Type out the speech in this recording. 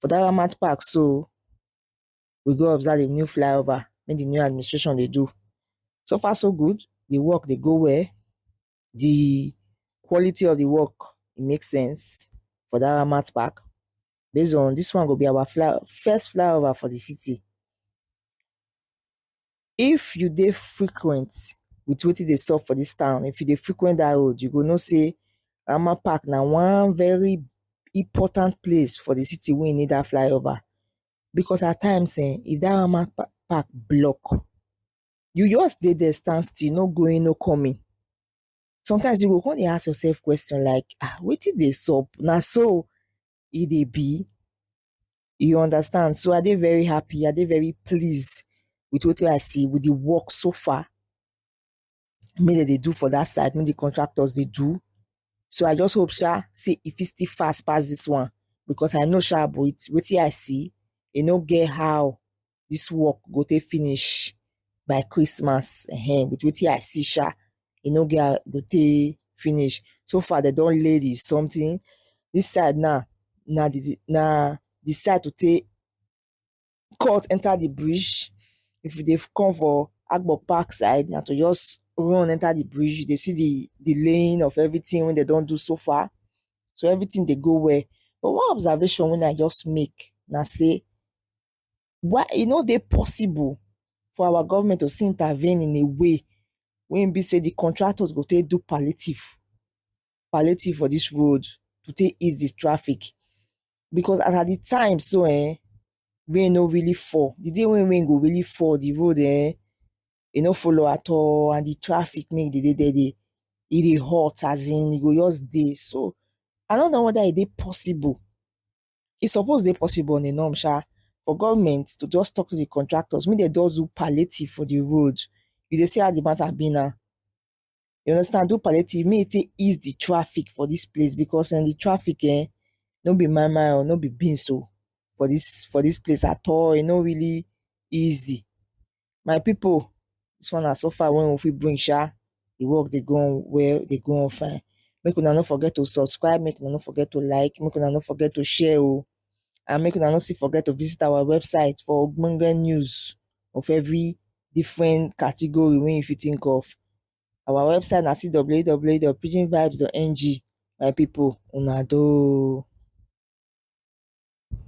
For dat Ramat park so, we go observe di new fly over wey di new administration dey do. So far so good, di work dey go well, di quality of di work e make sense for dat Ramat park. Base on dis one go be our fly first fly over for di city. If you dey frequent with wetin dey sup for dis town, if you dey frequent dat road you go know sey Rama Park na one very important place for the city wey need dat flyover because at times um if dat Rama Park block you just dey there stand still no going no coming sometimes you go come dey ask yourself question like um wetin dey sup na so e dey be you understand so i dey very happy i dey very pleased with wetin i see with the work so far me dem dey do for that side me the contractors dey do so i just hope sha say e fit still fast pass this one because i know sha with wetin i see e no get how this work go take finish by Christmas um with wetin I see sha e no get how e go take finish so far dem don lay the something this side now na the na the side to take cut enter the bridge if you dey come for Agbo Park side na to just run enter the bridge you dey see the the laying of everything wey dem don do so far so everything dey go well but one observation wey I just make na say why e no dey possible for our government to still intervene in a way wey e be sey the contractors go take do palliative, palliative for this road to take ease the traffic because as at the time so um rain no really fall the day wey rain go really fall the road um e no follow at all and the traffic make e dey dey there e dey hot as in e go just dey so i no know whether e dey possible e suppose dey possible on a norm sha for government to just talk to the contractors make dem just do palliative for the road you dey see how the matter be now you understand do palliative make e take ease the traffic for this place because um the traffic um no be my my o no be beans o for this for this place at all e no really easy My pipu dis one na so far wey we fit bring sha, di work dey go on well dey go on fine make una no forget to subscribe make una no forget to like make una no forget to share oh and make una no still forget to visit our website for ogbonge news of every different category wey you fit think of. Our website na www.pidginvibes.ng my pipu una doh oh.